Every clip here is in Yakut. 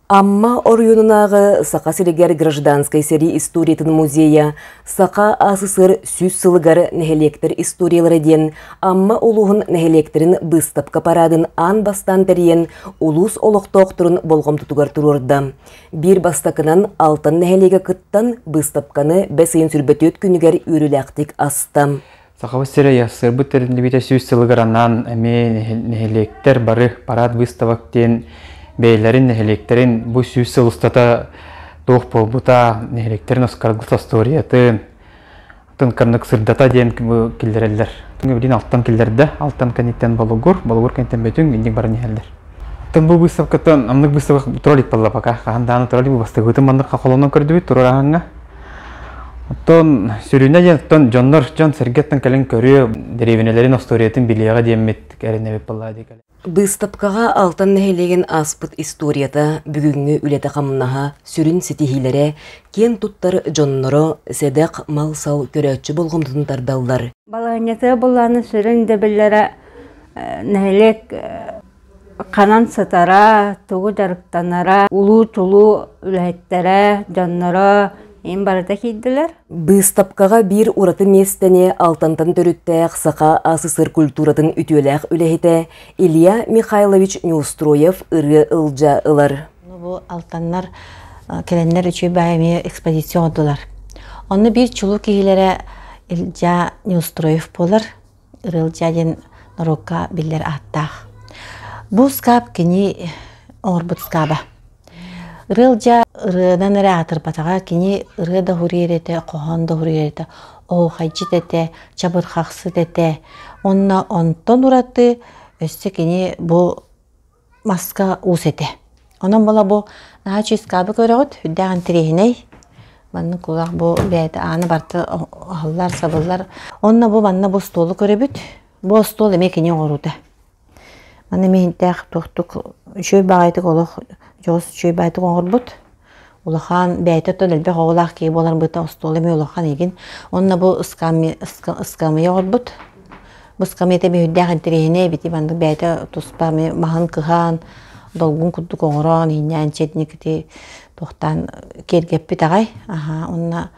Амма оройуонунааҕы Саха сиригэр гражданскай сэрии историятын музейа Саха СССР сүүс сылыгар нэһилиэктэр историялара диэн Амма улууһун нэһилиэктэрин быыстапка параадын аан бастаан тэрийэн улуус олохтоохторун болҕомтотугар туруорда. Биир бастакынан Алтан нэһилиэгэ кыттан быыстапканы бэс ыйын сүүрбэ түөрт күнүгэр үөрүүлээхтик аста. Сахабыт сирэ сырбыт тэриллибитэ сүүс сылыгар анаан эмиэ нэһилиэктэр бары парад выставок диэн бэйэлэрин нэһилиэктэрин бу сүүс сыл устата туох буолбута, нэһилиэктэрин Оскаргыт остуоруйатын, атын кыннык сырдата диэн киллэрэллэр. Билигин алтан киллэрдэ. Алтан кэнниттэн Болугур, Болугур кэнниттэн Бөтүҥ, инник баран иһэллэр. Аттан бу выставкаттан амнык выставка туралик балла пока. Хаһан дааны туралик бастыгытын маннык хахолонон көрдүбүт, турар Оттон сүрүнэ оттон дьоннор дьон-сэргэттэн кэлэн көрүө, дэриэбинэлэрин остуоруйатын билиэҕэ диэммит кэрэнэбит балаа дии Быыстапкаҕа Алтан нэһилиэгин ааспыт историята, бүгүҥҥү үлэтэ-хамнаһа, сүрүн ситиһиилэрэ, киэн туттар дьонноро, сэдэх мал-сал көрөөччү болҕомтотун тардаллар. Балаанньата былааны сүрүн дэбиллэрэ э, нэһилиэк э, ханан сытара, тугу дьарыктанара, улуу-тулуу үлэһиттэрэ, дьонноро ин барыта киирдилэр. Быыстапкаҕа биир ураты миэстэни алтантан төрүттээх саха СССР культуратын үтүөлээх үлэһитэ Илья Михайлович Неустроев ырыа ылдьа ылар. Бу алтаннар кэлэннэр үчүгэй баай эмиэ экспозиция оҥордулар. Онно биир чулуу киһилэрэ Илья Неустроев буолар. Рылдьа диэн норуокка биллэр ааттаах. Бу скаап кини оҥорбут скааба. Рылдьа ырыанан эрэ аатырбатаҕа кини ырыа да уһуруйар этэ, хоһоон да уһуруйар этэ, оһухайдьыт этэ, чабырхахсыт этэ. Уонна онтон ураты өссө кини бу маска уус этэ. Онон була бу наһаа чыыскаабы көрөҕүт, үрдээх интириэһинэй. Маннык кулак бу бэйэтэ ааны барты аһыллар, сабыллар. Онно бу манна бу остуолу көрөбүт. Бу остуол эмиэ кини оҥоруута. Маны эмиэ иһинтээх туохтук үчүгэй баҕайытык олох дьоҕус үчүгэй баайытык оҥорбут. Улахан бэйэтэ оттон элбэх оҕолоох киһи буоларбыта остуол эмиэ улахан игин. Онно бу ыскамыйа оҕорбут. Бу ыскамыйата биһирдээх интэриэһинэй эбити бандык бэйэтэ туспа маһын кыһаан, долгун курдук оҥороон, иһиннээн четникити тохтаан киэргэппит аҕай. Аха, онно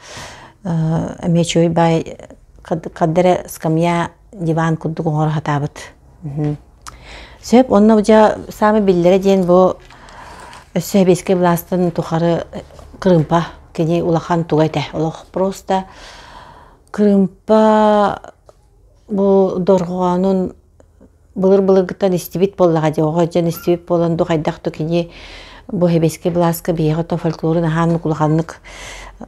эмиэ чүөй бай каддера ыскамыйа диван курдук оҥоро сатаабыт. Сөп, онно дьэ саамай биллэрэ диэн бу өссө сэбиэскэй былаастан тухары кырымпа кини улахан туга этэ. Олох просто кырымпа бу дорҕоонун былыр-былыргыттан истибит буоллаҕа дьэ оҕо дьон истибит буолан ду хайдах да кини бу сэбиэскэй былааска биһиэхэ то фольклорун аһаан улаханнык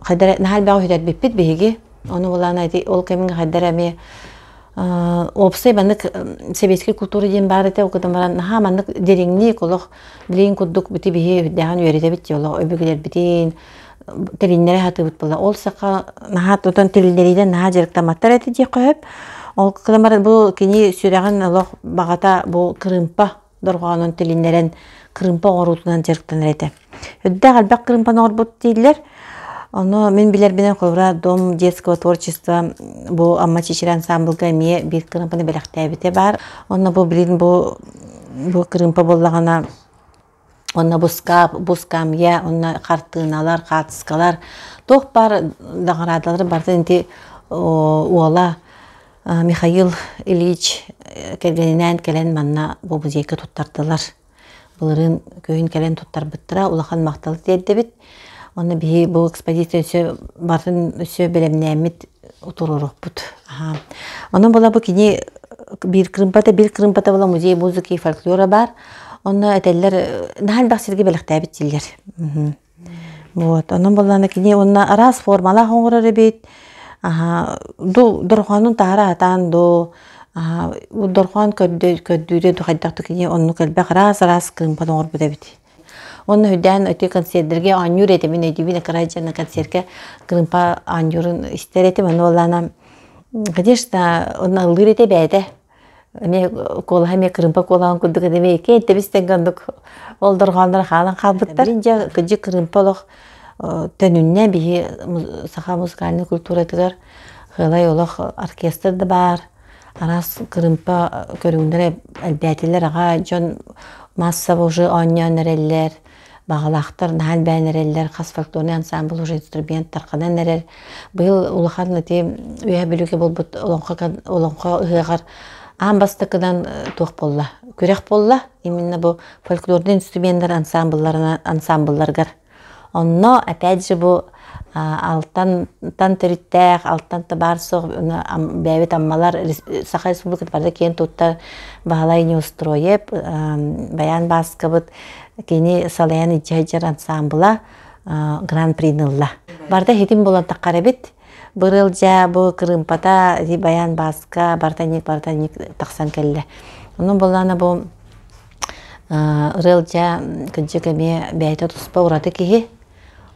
хайдах наһаа элбэҕи сүтэрбиппит биһиги Ону булаан эти ол кэмин хаддар эми уопсай маннык сэбиэскэй култуура диэн баар этэ ол гынан баран наһаа маннык дириҥник олох билигин курдук бити биһи үрдээҕин үөрэтэбит дии олох өбүгэлэрбитин тилиннэри сатыыбыт була ол саха наһаа тутан тилиннэриинэн наһаа дьарыктамматтар этэ дии хөп ол гынан баран бу кини сүрэҕин олох баҕата бу кырыымпа дорҕоонун тилиннэрэн крымпа оҥоруутунан дьарыктанар этэ. Үрдээх элбэх крымпаны оҥорбут дииллэр. Ону мин билэрбинэн Ховра дом детского творчества бу Амма Чичирэ ансамблга эмиэ биир крымпаны бэлэхтээбитэ баар. Онно бу билин бу бу крымпа буоллаҕына онно бу скап, бу скамья, онно хартыыналар, хаартыскалар туох баар даҕараадалары барытын ити уола Михаил Ильич кэргэнинээн кэлэн манна бу музейга туттардылар. Былырыын күһүн кэлэн туттарбыттара улахан махтал тиэрдэбит. Онно биһи бу экспозиция өссө барын өссө бэлэмнээммит утуруоруппут. Онон була бу кини биир кырымпата bir кырымпата була музей музыки и фольклора бар. Онно этэллэр наһан бах сирге бэлэхтээбит тиллер. Вот, ону буллана кини уонна араас формалаах оҥорор эбит. Дул дорхоонун таһара атаан дуу, бу дорхоон көрдүүрэ дуу хайдах кини оннук элбэх араас-араас кыымпан оҥорбут эбит. Онно үрдээн өтө концердерге оонньуур этимин өйдүүбүн акырай дьана концертке кыымпа оонньуурун истэр этим аны боллана конечно онно ыллыыр этэ бээтэ эмиэ куолаһа эмиэ кырыымпа куолаҕын курдук эмиэ икки интэбистэн гандык ол дорҕооннор хаалан хаалбыттар дьэ кыдьы кырыымпа олох төнүннэ биһи саха музыкальнай культуратыгар хыылай олох оркестр да баар араас кырыымпа көрүҥнэрэ элбээтилэр аҕа дьон массаба уже оонньоон эрэллэр Баҕалаахтар наһаа элбээн эрэллэр, хас фольклорный ансамбль уже инструментар ханан эрэр. Быйыл улахан ити үйэ бүлүгэ булбут олоҥхо ыһыаҕар аан бастакыдан туох болла? Күрэх болла именно бу фольклорный инструменттар ансамблларынан ансамблларгар. Онно опять же бу алтан төрүттээх, алтан табаар суох бэйэбит аммалар Саха Республиката барыта киэн туттар Баһылай Неустроев, Баян Бааскабыт кини салайан илдьэ сылдьар ансаамбыла гран-принылла. Барыта хитин болон таххар эбит. Бырылдьа бу кырымпата Баян Бааска бартанник бартанник тахсан кэллэ. Ону боллана бу ырылдьа кыдьык эмиэ бэйэтэ туспа ураты киһи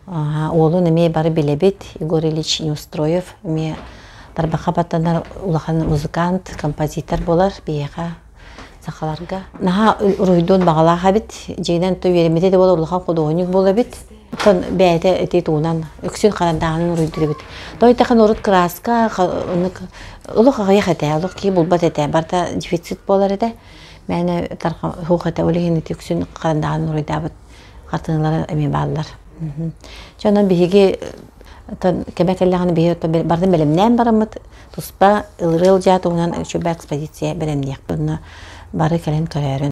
Уолун эмиэ бары билэбит. Егор Ильич Неустроев эмиэ тарбахха баттанар улахан музыкант, композитор буолар биһиэхэ сахаларга. Наһаа уруһуйдуун баҕалаах эбит. Дьиҥинэн то үөрэммитэ да буолар улахан худуоһунньук буола эбит. Оттон бэйэтэ ити туунан үксүн харандааһынын уруйдуубут. Тойтахан урут кырааска олох аҕыйах этэ, олох киһи булбат этэ. Барта дефицит буолар этэ. Мээнэ тарха хух этэ ол иһин ити үксүн харандааһын уруйдаабыт. хатыналара эмиэ бааллар. Дьоно биһиги кэмэ кэллэҕинэ биһи бардын бэлэмнээн бараммыт туспа ылырыал дьаа туһунан үчүгэй экспозиция бэлэмниэхпин бары кэлэн көрөөрүн